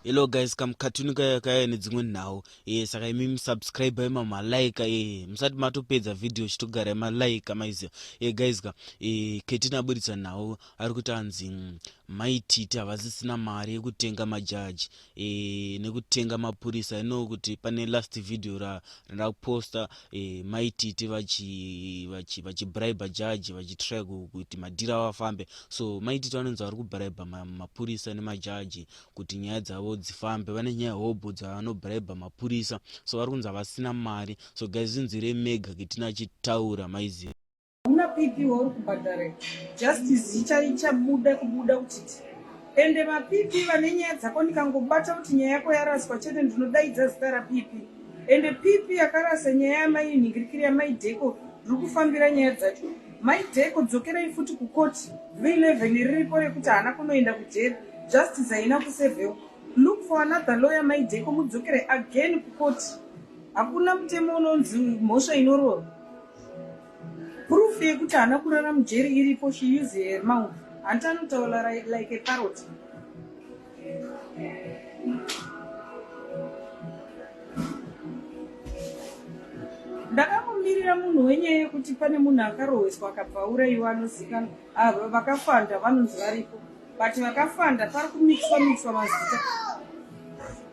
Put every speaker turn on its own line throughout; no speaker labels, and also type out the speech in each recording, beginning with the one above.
hello guys kamukatuni kaya kaya nedzimwe nhau e, saka imi musubscribe ema malaika e, musati matopedza video chitogara malaika maiziva e, guys ka e, ketina aburitsa nhau ari kuti anzi mm, maititi havasisina mari yekutenga majaji e, nekutenga mapurisa ino kuti pane last video rakuposta eh, maititi vachibraiba jaji vachitry kuti madhiri avo afambe so maititi vanonzi vari kubraiba mapurisa nemajaji kuti nyaya dzavo dzifambe vane nyaya hobho dzavanobraiba mapurisa so vari kunzi havasina mari so guys inzwirei mega kitina achitaura maiziva Hauna pipi
wauri kubhadhara justice ichabuda kubuda kuti ende mapipi vane nyaya dzako ndikangobata kuti nyaya yako yaraswa chete ndinodaidza zita rapipi ende pipi yakarasa nyaya yamai nhingirikiri yamai deko ndiri kufambira nyaya dzacho mai deko dzokerai futi kukoti ve 11 riripo rekuti haana kunoenda kujeri justice haina kusevewa look for another lawyer mai deko mudzokere again kukoti hakuna mutemo unonzi mhosva inoroorwa proof yekuti haana kurara mujeri iripo she use her mouth hanti anotaura like a parrot ndakamumirira munhu wenyaya yekuti pane munhu akarohweswa akabva uraiwa anozikana ah, vakafanda vanonzi varipo but vakafanda pari kumitswa mitswa mazita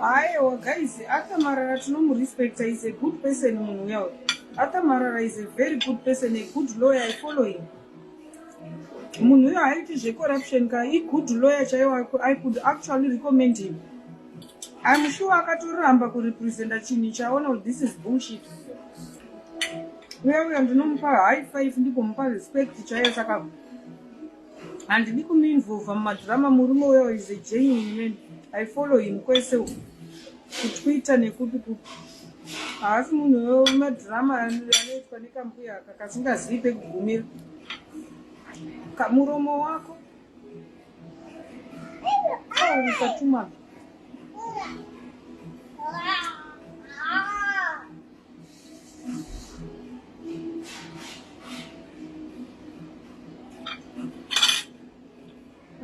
Aiwa guys, Arthur Marara tinomurespecta, he's a good person munhu uya uyu. Arthur Marara is a very good person, a good lawyer, I follow him. Munhu uyo haiti zvecorruption ka, i good lawyer chaiwo, I could actually recommend him. I'm sure akatoramba kurepresenta chinhu chaona kuti this is bullshit. Uya uya ndinomupa high five ndigomupa respect chaiyo saka Handidi kuminvolva mumadrama murume uyo is a genuine man. I follow him kwese uko. KuTwitter nekupi kupi. Haasi munhu wemadrama anoitwa nekambuya aka kasingazivi pekugumira. Kamuromo wako. Oh, usatuma.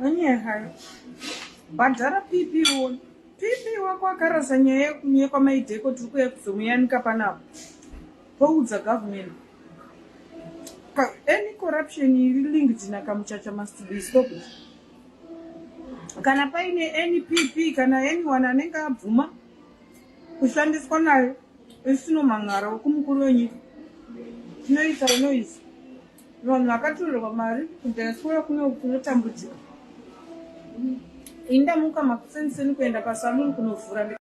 Anya hayo. Bhadhara pipi iwona. Pipi wako akarasa nyaya yekunye kwamaidheko tiri kuya kuzomuyanika panapa. Poudza government. Ka, any corruption iri linked nakamuchacha must be stopped. Kana paine any pipi kana anyone anenge abvuma kushandiswa nayo isino mangara kumukuru wenyika tinoita unoisa vanhu vakatorerwa mari kudiaspora kuno kunotambudzika indamuka makuseni seni kuenda pasaluni kunovhura